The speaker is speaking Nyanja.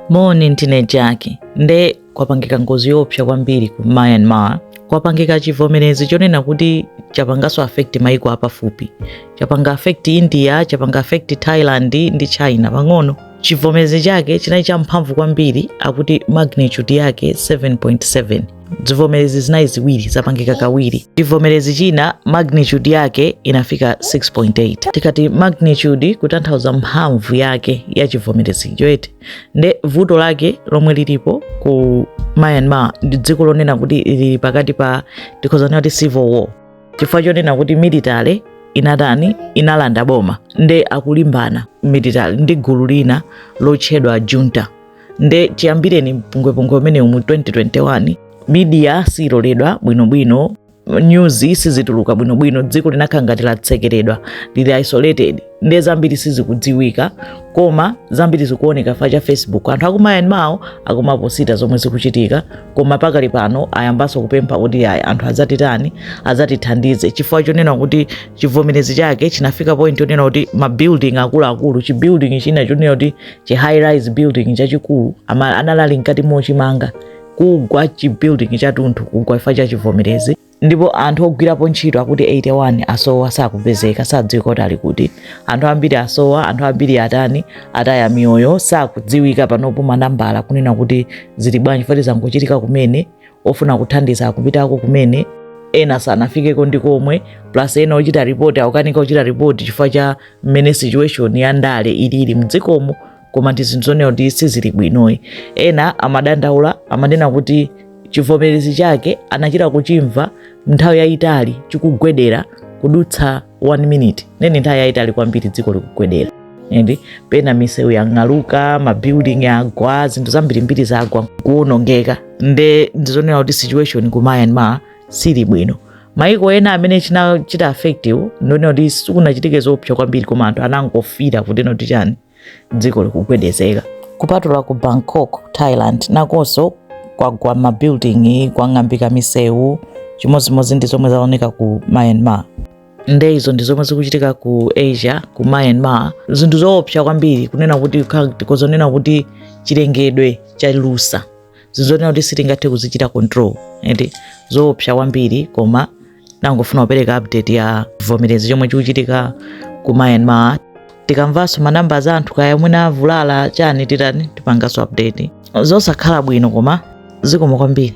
Moni ndine Jaki. Nde kwapangika ngozi yoopsa kwambiri ku Myanmar. Kwapangika chivomerezi chonena kuti chapanganso affect maiko apafupi. Chapanga affect India, chapanga affect Thailand ndi China pang'ono. Chivomerezi chake chinali champhamvu kwambiri akuti magnitude yake 7.7. zivomerezi zinali ziwiri zapangika kawiri chivomerezi china magnitude yake inafika 6.8 tikati magnitude kutanthauza mphamvu yake ya chivomerezi cho eti nde vuto lake lomwe lilipo ku myanmar ndi dziko lonena kuti lili pakati pa tikhoza kunena kuti civil war chifukwa chonena kuti military inatani inalanda boma nde akulimbana military ndi gulu lina lotchedwa junta nde chiyambireni mpungwepungwe umenewu mu 2021 media siyiloledwa bwinobwino news sizituluka bwinobwino dziko linakhala ngati latsekeredwa lili isolated nde zambiri sizikudziwika koma zambiri zikuoneka chifukwa cha facebook anthu aku myanmarwo akumaposita zomwe zikuchitika koma pakali pano ayambanso kupempha kuti ayi anthu adzatitani adzatithandize chifukwa chonena kuti chivomerezi chake chinafika point yonena kuti mabuilding akuluakulu chibuilding china chonena kuti chi high rise building chachikulu ama- anali ali mkati mochimanga kugwa chi building chatunthu kugwa chifukwa cha chivomerezi ndipo anthu ogwirapo ntchito akuti 81 asowa sakupezeka sakudziwika kuti ali kuti anthu ambiri asowa anthu ambiri atani ataya miyoyo sakudziwika panopo manambala kunena kuti zili bwanji poti zangochitika kumene ofuna kuthandiza akupitako kumene ena sanafikeko ndi komwe plus ena ochita ripoti akukanika kuchita ripoti chifukwa cha mmene situation ya ndale ilili mdzikomo koma ndi zinthu zonena kuti sizili bwinoyi ena amadandaula amanena kuti chivomerezi chake anachita kuchimva nthawi yayitali chikugwedera kudutsa one minute nde ndi nthawi yayitali kwambiri dziko likugwedera and pena misewu yang'aluka mabuilding agwa zinthu zambirimbiri zagwa kuwonongeka nde ndizonena kuti situation ku myanmar sili bwino maiko ena amene chinachita affectiwo ndi onena kuti sikunachitike zoopsa kwambiri koma anthu anangofila kuti no kuti chani dziko likugwedezeka kupatula ku bangkok thailand nakonso kwagwa mabuilding kwang'ambika misewu chimodzimodzi ndi zomwe zaoneka ku myanmar nde izo ndi zomwe zikuchitika ku asia ku myanmar zinthu zoopsa kwambiri kunena kuti zonena kuti chilengedwe chalusa zinthu zonena kuti sitingathe kuzichita control eti zoopsa kwambiri koma nangofuna kupereka update ya chivomerezi chomwe chikuchitika ku myanmar tikamvanso manamba za anthu kaya mwina avulala chani titani tipanganso update zosakhala bwino koma zikomo kwambiri